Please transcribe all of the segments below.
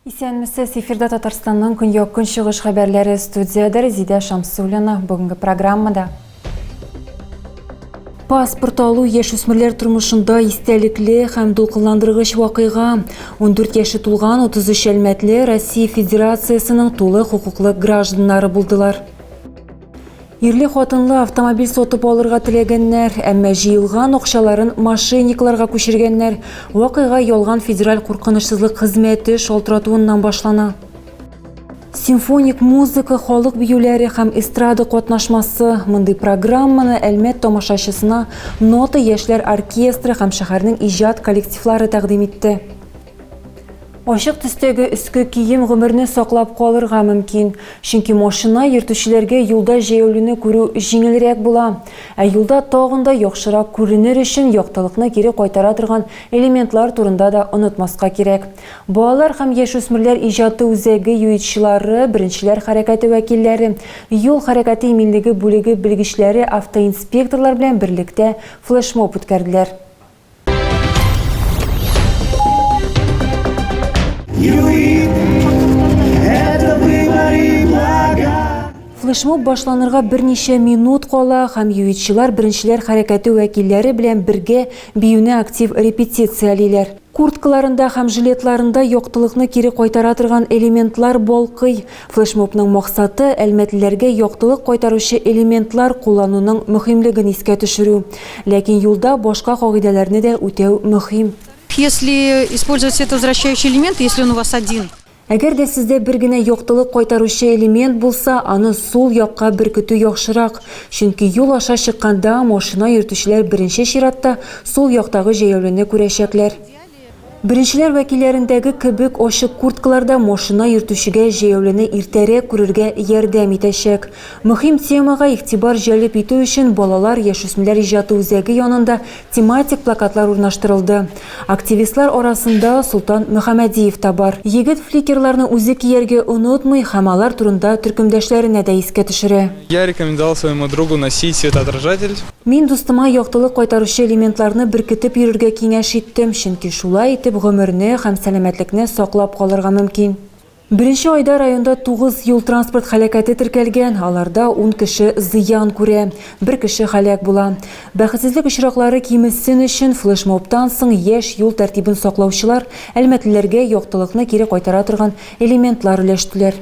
Исәнмесез, эфирда Татарстанның көньяк-көнчыгыш хәбәрләре студиядә Резидә Шамсуллина. Бүгенге программада Паспорт алу яшүсмерләр тормышында истәлекле һәм дулкынландыргыч вакыйга. 14 яше тулган 33 әлмәтле Россия Федерациясенең тулы хокуклы гражданнары булдылар. Ирле хатынлы автомобиль сотып алырга теләгәннәр, әмма җыелган акчаларын мошенникларга күчергәннәр. Вакыйга ялган федераль куркынычсызлык хезмәте шалтыратуыннан башлана. Симфоник музыка, халык биюләре һәм эстрада катнашмасы мондый программаны Әлмәт тамашачысына Нота яшьләр оркестры һәм шәһәрнең иҗат коллективлары тәкъдим итте. Ачык төстәге өске кием гомерне саклап калырга мөмкин, чөнки машина йөртүчеләргә юлда җәяүлене күрү җиңелрәк була, ә юлда тагын да яхшырак күренер өчен яктылыкны кире кайтара торган элементлар турында да онытмаска кирәк. Балалар һәм яшүсмерләр иҗаты үзәге юитчылары, беренчеләр хәрәкәте вәкилләре, юл хәрәкәте иминлеге бүлеге белгечләре автоинспекторлар белән берлектә флешмоб үткәрделәр. Флешмоб башланырга берничә минут кала һәм юитчылар беренчеләр хәрәкәте вәкилләре белән бергә биюне актив репетициялиләр. Курткаларында һәм жилетларында яктылыкны кире кайтара торган элементлар балкый. Флешмобның максаты, әлмәтлеләргә яктылык кайтаручы элементлар куллануның мөһимлеген искә төшерү. Ләкин юлда башка кагыйдәләрне дә үтәү мөһим. Если использовать свет возвращающий элемент, если он у вас один. Әгәр дә сездә бер генә яктылык кайтаручы элемент булса, аны сул якка беркетү яхшырак, чөнки юл аша чыкканда машина йөртүчеләр беренче чиратта сул яктагы җәяүлене күрәчәкләр. Беренчеләр вәкилләрендәге кебек ачык курткалар да машина йөртүчегә җәяүлене иртәрәк күрергә ярдәм итәчәк. Мөһим темага игътибар җәлеп итү өчен балалар, яшүсмерләр иҗаты үзәге янында Тематик плакатлар урнаштырылды. Активистлар арасында Солтан Мөхәмәдиев та бар. Егет фликерларны үзе кияргә онытмый һәм алар турында төркемдәшләренә дә искә төшерә. Я рекомендовал своему другу носить светоотражатель. Мин дустыма яктылык кайтаручы элементларны беркетеп йөрергә киңәш иттем, чөнки шулай итеп гомерне һәм сәламәтлекне саклап калырга мөмкин. Беренче айда районда тугыз юл-транспорт һәлакәте теркәлгән, аларда ун кеше зыян күрә, бер кеше һәлак була. Бәхетсезлек очраклары кимесен өчен, флешмобтан соң яшь юл тәртибен саклаучылар әлмәтлеләргә яктылыкны кире кайтара торган элементлар өләштеләр.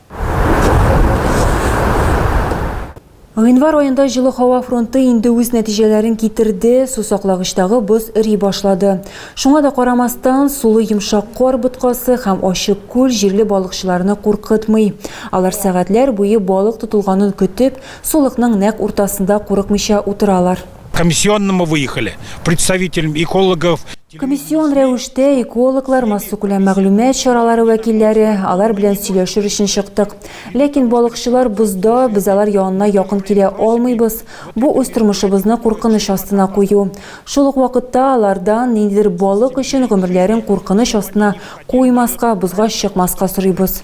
Гыйнвар аенда җылы һава фронты инде үз нәтиҗәләрен китерде, сусаклагычтагы боз эри башлады. Шуңа да карамастан, сулы йомшак кар боткасы һәм ачык күл җирле балыкчыларны куркытмый. Алар сәгатьләр буе балык тотылганын көтеп, сулыкның нәкъ уртасында курыкмыйча утыралар. Комиссионным мы выехали, представителем экологов. Комиссион рәвештә экологлар, массакүләм мәгълүмат чаралары вәкилләре, алар белән сөйләшер өчен чыктык. Ләкин балыкчылар бозда, без алар янына якын килә алмыйбыз. Бу үз тормышыбызны куркыныч астына кую. Шул ук вакытта алардан ниндидер балык өчен гомерләрен куркыныч астына куймаска, бозга чыкмаска сорыйбыз.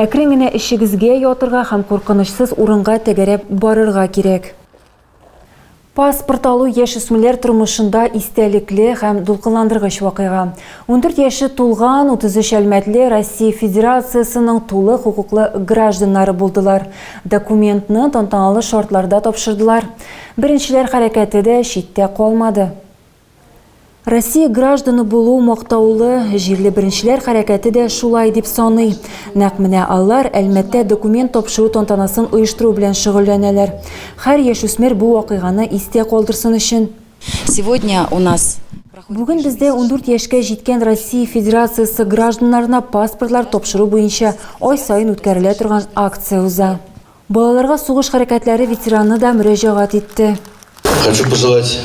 Әкрен генә эчегезгә ятырга һәм куркынычсыз урынга тәгәрәп барырга кирәк. Паспорт алу яшүсмерләр тормышында истәлекле һәм дулкынландыргыч вакыйга. Ундүрт яше тулган 33 әлмәтле Россия Федерациясенең тулы хокуклы гражданнары булдылар. Документны тантаналы шартларда тапшырдылар. Беренчеләр хәрәкәте дә читтә калмады. Россия гражданы булу мактаулы, җирле беренчеләр хәрәкәте дә шулай дип саный. Нәкъ менә алар Әлмәттә документ тапшыру тантанасын оештыру белән шөгыльләнәләр. Һәр яшүсмер бу вакыйганы истә калдырсын өчен. Сегодня у нас. Бүген бездә ундүрт яшькә җиткән Россия Федерациясе гражданнарына паспортлар тапшыру буенча ай саен үткәрелә торган акция уза. Балаларга сугыш хәрәкәтләре ветераны да мөрәҗәгать итте. Хочу пожелать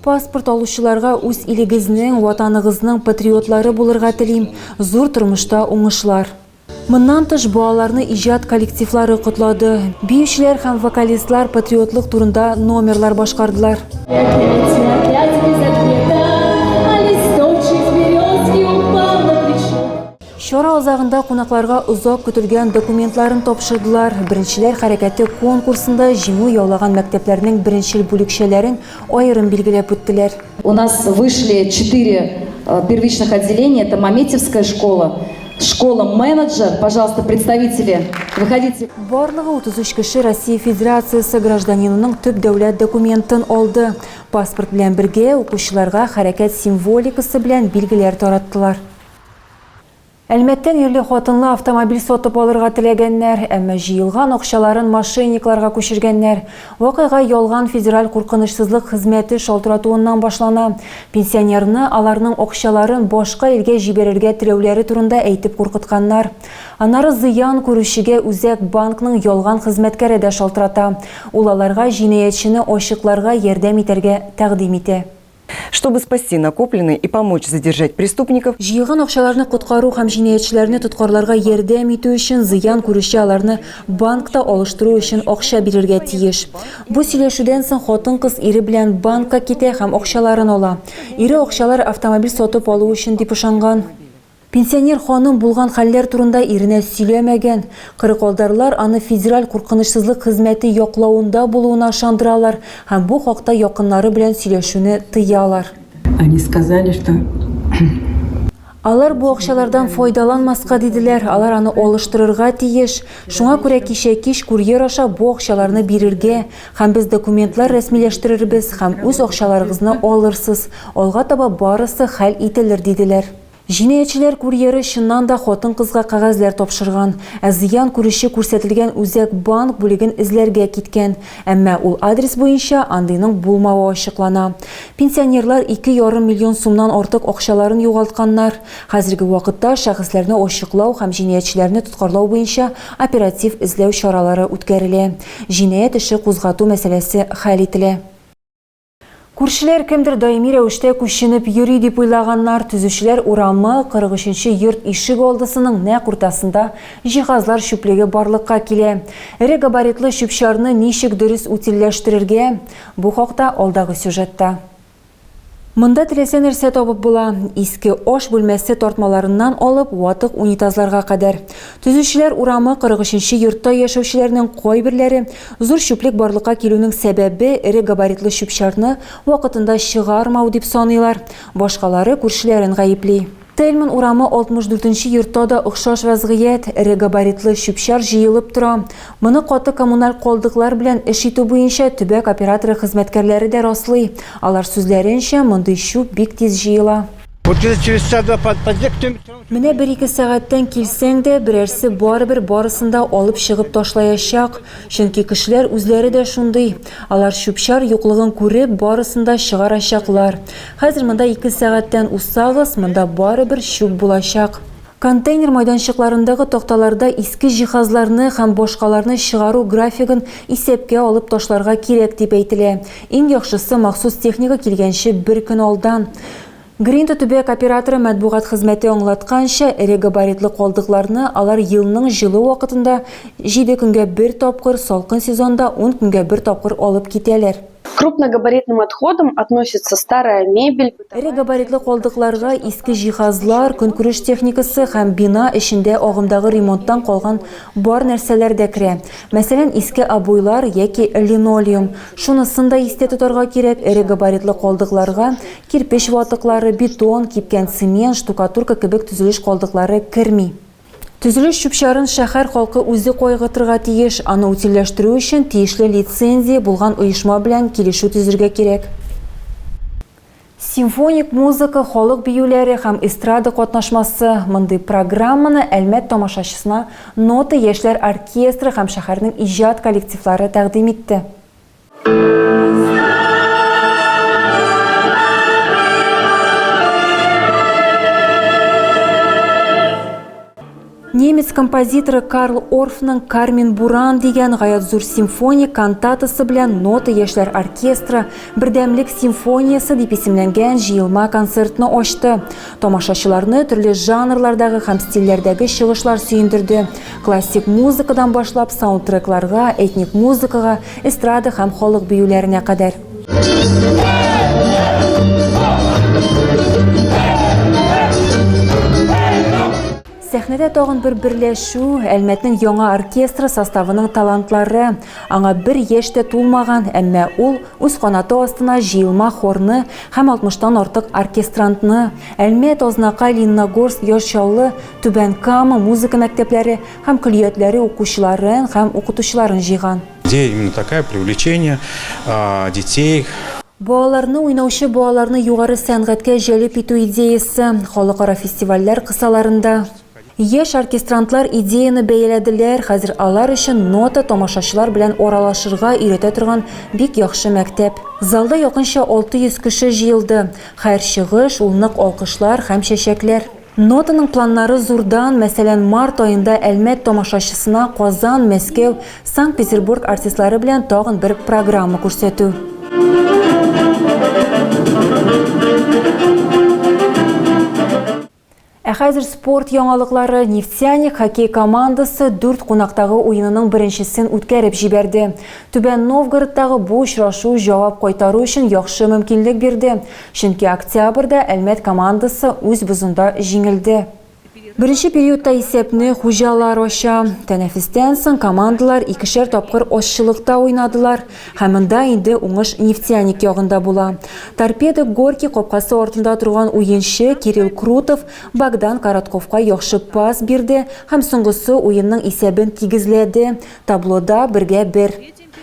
Паспорт алучыларга үз илегезнең, Ватаныгызның патриотлары булырга телим, зур тормышта уңышлар. Моннан тыш, балаларны иҗат коллективлары котлады, биючеләр һәм вокалистлар патриотлык турында номерлар башкардылар. Чара азагында кунакларга озак көтелгән документларын тапшырдылар, Беренчеләр хәрәкәте конкурсында җиңү яулаган мәктәпләрнең беренчел бүлекчәләрен аерым билгеләп үттеләр. У нас вышли четыре первичных отделения, это Маметьевская школа, школа менеджер, пожалуйста, представители, выходите. Барлыгы 33 кеше Россия Федерациясе гражданинының төп дәүләт документын алды. Паспорт белән бергә, укучыларга хәрәкәт символикасы белән билгеләр тараттылар. Әлмәттән ирле хатынлы автомобиль сатып алырга теләгәннәр, әмма җыелган акчаларын мошенникларга күчергәннәр. Вакыйга ялган федераль куркынычсызлык хезмәте шалтыратуыннан башлана. Пенсионерны аларның акчаларын башка илгә җибәрергә теләүләре турында әйтеп куркытканнар. Аннары зыян күрүчегә үзәк банкның ялган хезмәткәре дә шалтырата. Ул аларга җинаятьчене ачыкларга ярдәм итәргә тәкъдим итә. Чтобы спасти накопленные и помочь задержать преступников, Җыелган акчаларны коткару һәм җинаятьчеләрне тоткарларга ярдәм итү өчен зыян күрүче аларны банкта алыштыру өчен акча бирергә тиеш. Бу сөйләшүдән соң хатын-кыз ире белән банкка китә һәм акчаларын ала. Ире акчалар автомобиль сатып алу өчен дип ышанган. Пенсионер ханым булган хәлләр турында иренә сөйләмәгән. Кырыкалдарлар аны федераль куркынычсызлык хезмәте яклавында булуына ышандыралар һәм бу хакта якыннары белән сөйләшүне тыялар. Они сказали, что. Алар бу акчалардан файдаланмаска диделәр, алар аны алыштырырга тиеш. Шуңа күрә кичә кич курьер аша бу акчаларны бирергә һәм без документлар рәсмиләштерербез һәм үз акчаларыгызны алырсыз, алга таба барысы хәл ителер, диделәр. Җинаятьчеләр курьеры чыннан да хатын-кызга кәгазьләр тапшырган, ә зыян күрүче күрсәтелгән үзәк банк бүлеген эзләргә киткән, әмма ул адрес буенча андыйның булмавы ачыклана. Пенсионерлар ике ярым миллион сумнан артык акчаларын югалтканнар. Хәзерге вакытта шәхесләрне ачыклау һәм җинаятьчеләрне тоткарлау буенча оператив эзләү чаралары үткәрелә. Җинаять эше кузгату мәсьәләсе хәл ителә. Күршеләр кемдер даими рәвештә күченеп йөри дип уйлаганнар, төзүчеләр урамы, 43 йорт ишек алдысының нәкъ уртасында җиһазлар чүплеге барлыкка килә. Эре габаритлы чүп-чарны ничек дөрес утильләштерергә? Бу хакта алдагы сюжетта. Монда теләсә нәрсә табып була, иске аш бүлмәсе тартмаларыннан алып ватык унитазларга кадәр. Төзүчеләр урамы, 43 йортта яшәүчеләрнең кайберләре Зур чүплек барлыкка килүнең сәбәбе, эре габаритлы чүп-чарны вакытында чыгармау, дип саныйлар. Башкалары күршеләрен гаепли. Тельман урамы 64 нче йортта да охшаш вәзгыять, эре габаритлы чүп-чар җыелып тора. Моны каты коммуналь калдыклар белән эш итү буенча төбәк операторы хезмәткәрләре дә раслый. Алар сүзләренчә, мондый чүп бик тиз җыела. Вот где-то через часа два под, подъезд кто-нибудь все равно Менә бер-ике сәгатьтән килсәң дә, берәрсе барыбер барысын да алып чыгып ташлаячак. Чөнки кешеләр үзләре дә шундый. Алар чүп-чар юклыгын күреп, барысын да чыгарачаклар. Хәзер монда ике сәгатьтән узсагыз, монда барыбер чүп булачак. Контейнер майданчыкларындагы такталарда иске җиһазларны һәм башкаларны чыгару графигын исәпкә алып ташларга кирәк дип әйтелә. Иң яхшысы, махсус техника килгәнче бер көн алдан. Гринта төбәк операторы матбугат хезмәте аңлатканча, эре габаритлы калдыкларны алар елның җылы вакытында җиде көнгә бер тапкыр, салкын сезонда ун көнгә бер тапкыр алып китәләр. К крупногабаритным отходам относятся старая мебель, бытовая техника, Эре габаритлы калдыкларга иске җиһазлар, көнкүреш техникасы һәм бина эчендә агымдагы ремонттан калган бар нәрсәләр дә керә. Мәсәлән, иске обойлар яки линолеум. Шунысын да истә тотарга кирәк, эре габаритлы калдыкларга кирпеч ватыклары, бетон, кипкән цемент, штукатурка кебек төзелеш калдыклары керми. Төзелеш чүп-чарын шәһәр халкы үзе кайгыртырга тиеш, аны утильләштерү өчен тиешле лицензия булган оешма белән килешү төзергә кирәк. Симфоник музыка, халык биюләре һәм эстрада катнашмасы, мондый программаны Әлмәт тамашачысына Нота яшьләр оркестры һәм шәһәрнең иҗат коллективлары тәкъдим итте. Немец композиторы Карл Орфның Кармен Буран дигән гаять зур симфония кантатасы белән Нота яшьләр оркестры Бердәмлек симфониясе дип исемләнгән җыелма концертны ачты. Тамашачыларны төрле жанрлардагы һәм стильләрдәге чыгышлар сөендерде. Классик музыкадан башлап саундтрекларга, этник музыкага, эстрада һәм халык биюләренә кадәр. Сәхнәдә тагын бер берләшү, Әлмәтнең яңа оркестры составының талантлары. Аңа бер яшь тә тулмаган, әмма ул үз канаты астына җыелма хорны һәм 60-тан артык оркестрантны. Әлмәт, Азнакай, Лениногорск, Яр Чаллы, Түбән Кама музыка мәктәпләре һәм көллиятләре укучыларын һәм укытучыларын җыйган. Идея именно такая, привлечение а, детей. Балаларны уйнаучы балаларны югары сәнгатькә җәлеп итү идеясы халыкара фестивальләр кысаларында Яшь оркестрантлар идеяны бәяләделәр, хәзер алар өчен нота тамашачылар белән аралашырга өйрәтә торган бик яхшы мәктәп. Залда якынча 600 кеше җыелды. Хәр чыгыш, ул нык алкышлар һәм чәчәкләр. Нотаның планнары зурдан, мәсәлән, март аенда Әлмәт тамашачысына Казан, Мәскәү, Санкт-Петербург артистлары белән тагын бер программа күрсәтү. Ә хәзер спорт яңалыклары. Нефтяник хоккей командасы дүрт кунактагы уенының беренчесен үткәреп җибәрде. Түбән Новгородтагы бу очрашу җавап кайтару өчен яхшы мөмкинлек бирде. Чөнки октябрьдә Әлмәт командасы үз бозында җиңелде. Беренче периодта исәпне хуҗалар ача. Тәнәфестән соң командалар икешәр тапкыр азчылыкта уйнадылар. Һәм монда инде уңыш Нефтяник ягында була. Торпедо Горький капкасы артында торган уенчы Кирилл Крутов Богдан Коротковка яхшы пас бирде һәм соңгысы уенның исәбен тигезләде, таблода бергә бер.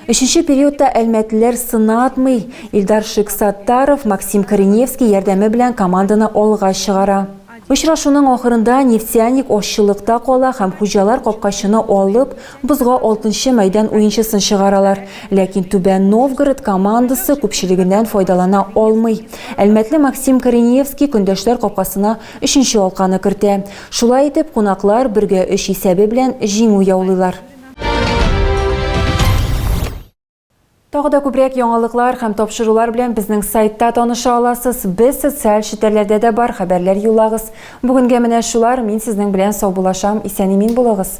Өченче периодта әлмәтлеләр сынатмый, Илдар Шиксаттаров, Максим Кореневский ярдәме белән команданы алга чыгара. Очрашуның ахырында Нефтяник ашчылыкта кала һәм хуҗалар капкачыны алып, бозга алтынчы мәйдан уенчысын чыгаралар. Ләкин Түбән Новгород командасы күпчелегеннән файдалана алмый. Әлмәтле Максим Кореневский көндәшләр капкасына өченче алканы кертә. Шулай итеп, кунаклар бергә өч исәбе белән җиңү яулыйлар. Тагы да күбрәк яңалыклар һәм тапшырулар белән безнең сайтта таныша аласыз. Без социаль челтәрләрдә дә бар хәбәрләр юллагыз. Бүгенгә менә шулар. Мин сезнең белән сау булашам. Исән-имин булыгыз.